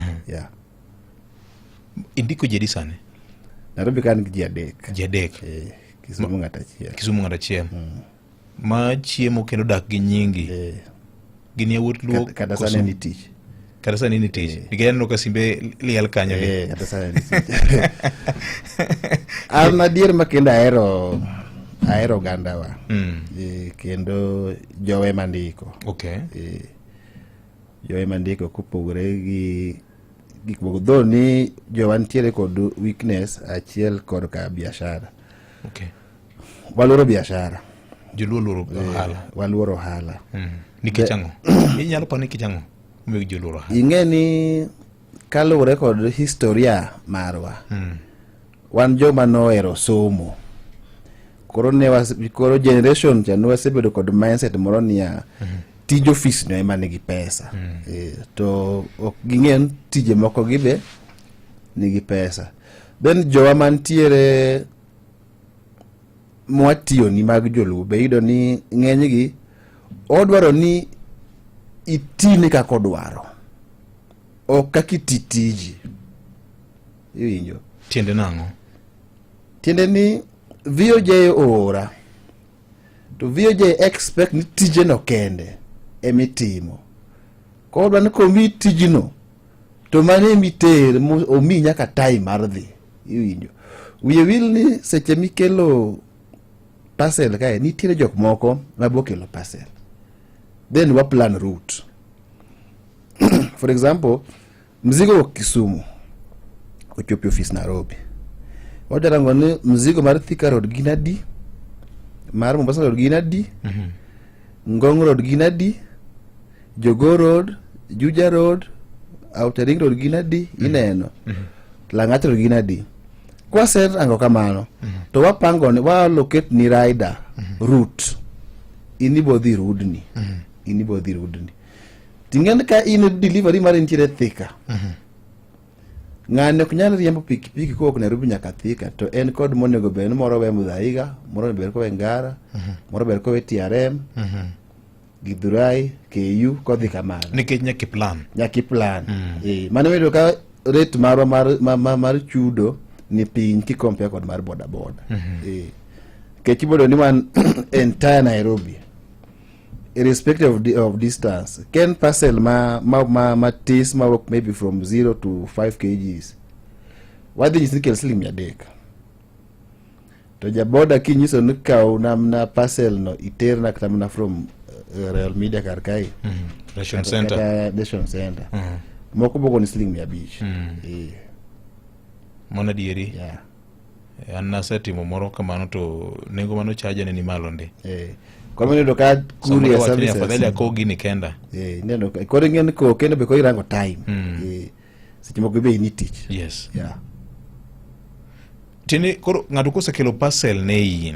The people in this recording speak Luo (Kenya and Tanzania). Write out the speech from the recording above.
mm. yeah. indiko jedi sani nairobi ka an gi ji adek ji adek eh, kisumu ng'at achiel kisumu ng'at achiel mm. ma chiemo kendo dak gi nyingi eh. gin yawuot luo kata sani ni tich kata sani ni tich eh. nikech aneno ka simbe liel kanyo eh, kata sani ni tich an adier ma kendo ahero mm. ahero ogandawa mm. e, kendo jowe mandiko okay. e, Joy mandiko kopogore gi gik moko dho ni jowa nitiere kod weakness achiel kod ka biashara okay. waluoro biashara joluo luoro eh, ohala waluoro ohala mm. nikech ang'o inyalo pa nikech ang'o omiyo joluoro ohala ing'e ni Kaluwore kod historia marwa, mm. wan joma nohero somo koro ne was, koro generation cha ne wasebedo kod mindset moro niya mm -hmm. tij ofis no ema nigi pesa mm -hmm. e, to ok ging'e tije moko gibe nigi pesa then jowa mantiere mwatiyoni mag joluo be yudo ni ng'enygi odwaro ni itine kaka odwaro ok kaka iti tiji iwinjo tiende nang'o tiende ni VOJ oora to VOJ expect ni tijeno kende emitimo koro dwa ni komi tijino to mano emiter omi nyaka time mar dhi iwinjo wiye wil ni seche mikelo parcel kae nitiere jok moko mabokelo parcel then waplan route for example mzigo wa Kisumu ochopi ofis Nairobi wajarango ni mzigo mar Thika Road gin adi mar Mombasa Road gin adi mm -hmm. Ngong Road gin adi Jogoo Road Juja Road Outer Ring Road gin adi mm -hmm. ineno mm -hmm. Lang'at Road gin adi kwaset ango kamano mm -hmm. to wapango ni walocate ni rider mm -hmm. route inibodhi rudni mm -hmm. inibodhi rudni Ting'en ka in e delivery mar nitiere Thika. Mhm. Ng'ani ok nyal riembo pikipiki kowuok Nairobi nyaka Thika to en kod monego bed ni moro we Mudhaiga, moro ber kowe Ngara, mhm. moro ber kowe TRM. Mhm. Githurai, KU kodhi kamano. Nikech nyaka plan. Nyaka plan. Mm. Eh, mano wedo ka rate marwa mar, mar, mar, mar chudo ni piny kikompea kod mar bodaboda. Mm -hmm. Eh. Kech ibodo ni wan entire Nairobi. irrespective of, the, of distance ken parcel ma ma ma matis ma work maybe from 0 to 5 kgs wadhi nyisi ni kel siling mia adek to jaboda kinyiso ni kaw namna parcel no iterna kata mana from uh, real media kar kae mm -hmm. nation center, kata nation center. Mm -hmm. moko boko ni siling mia abich mm. yeah. mano adieri yeah. an nasetimo moro kamano to nengo mano chaja ne ni malo ndi eh kwa mimi ndo ka kuri ya services afadhali ako gini kenda eh neno kwa ngene ko kenda be ko irango time mm. eh seche moko be ni tich yes yeah tini koro ng'ato kosekelo parcel ne in